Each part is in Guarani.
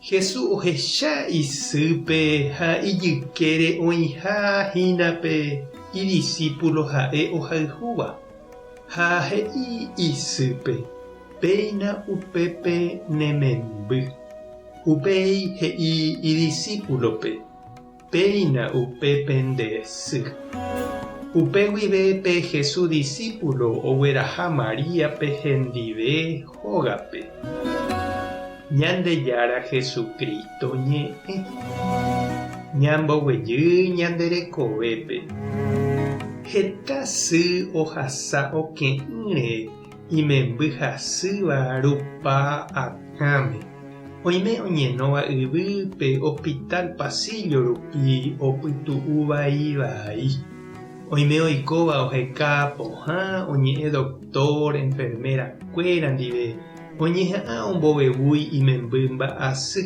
Jesús ohecha isýpe ha ijykére oĩha hína pe idisípulo ha'e ohayhúva, ha he'i isýpe, Péina upépe ne memby. Upéi he'i idisípulope. Péina upe pende sy. Upe guive pe Hesu disípulo ogueraha Maríape hendive hógape. Ñandejára Jesucristo ñe'ẽ. Ñamboguejy ñande rekovépe. Heta sy ohasa oke'ỹre Imemby hasýva rupa akãme. Oime oñenóva yvy pe hospital pasíllo rupi opytu'uvai vai. Oime oikóva oheka pohã oñe'ẽ doctor, enfermera kuéra ndive oñeha'ã ombovevúi imemby mba'asy.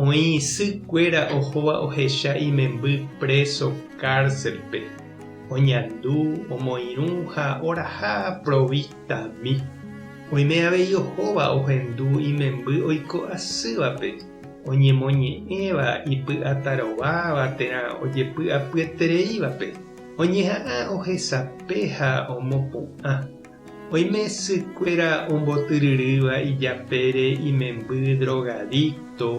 Oĩ isy kuéra ohóva ohecha imemby préso kárselpe, oñandu, omoirũ ha oraha provistami. Oime avei ohóva ohendu imemby oiko asývape, oñemoñe'ẽva ipy'atarováva térã ojepy'apyetereívape, oñeha'ã ohesape ha omopu'ã. Oime sykuéra ombotyryrýva ijapére imemby drogadicto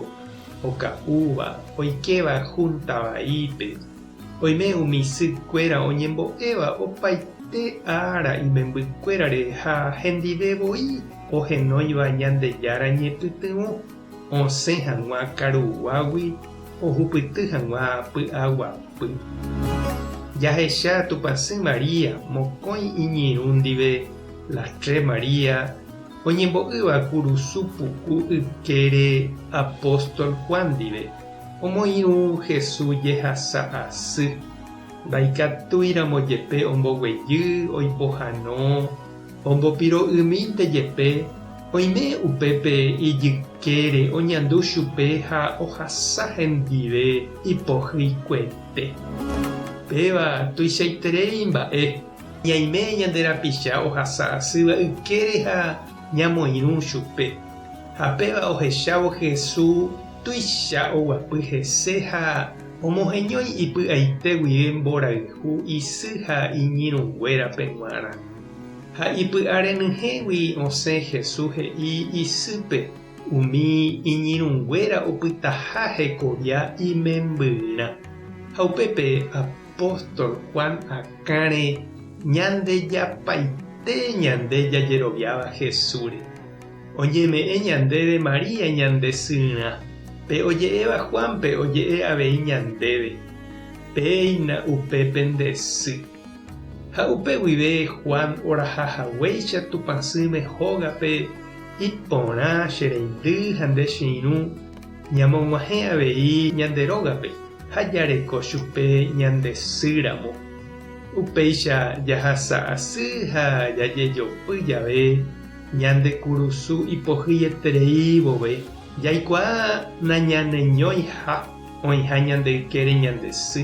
oka'úva oikéva Junta vaípe. Oime umi sykuéra oñembo'éva opaite ára imembykuérare ha hendive voi ohenóiva Ñandejára ñepytyvõ. Osẽ hag̃ua karuguágui ohupyty hag̃ua py'aguapy. Jahecha Tupãsy María mokõi iñirũ ndive La Tre María oñembo'ýva kurusu puku ykére apóstol Juan ndive, omoirũ Hesu jehasa asy, ndaikatúiramo jepe omboguejy oipohano, Ombopiro'ymínte jepe, oime upépe ijykére oñandu chupe ha ohasa hendive ipohyikuépe. Péva tuichaiterei mba'e, ñaime ñande rapicha ohasa asýva ykére ha ñamoirũ chupe. Ha péva ohechávo Hesu tuicha oguapy hese ha omoheñói ipy'aite guive mborayhu isy ha iñirũnguérape g̃uarã. Ha ipy'arenyhẽgui osẽ Jesús he'i isýpe umi iñirũnguéra opytaha hekovia imembyrã. Ha upépe apóstol Juan akãre ñandejapaite ñande jajeroviáva Jesúsre. Oñeme'ẽ ñandéve María ñande syrã, pe oje'éva Juánpe oje'e avei ñandéve, Péina upépe nde sy. Ha upe guive Juan oraha haguéicha Tupã sỹme hógape iporã che reindy ha nde che irũ, ñamog̃uahẽ avei ñande rógape ha jareko chupe ñande sy ramo. Upéicha jahasa asy ha jajejopy jave ñande kurusu ipohyieterei vove, jaikuaa nañaneñóiha oĩha ñande ykére ñande sy.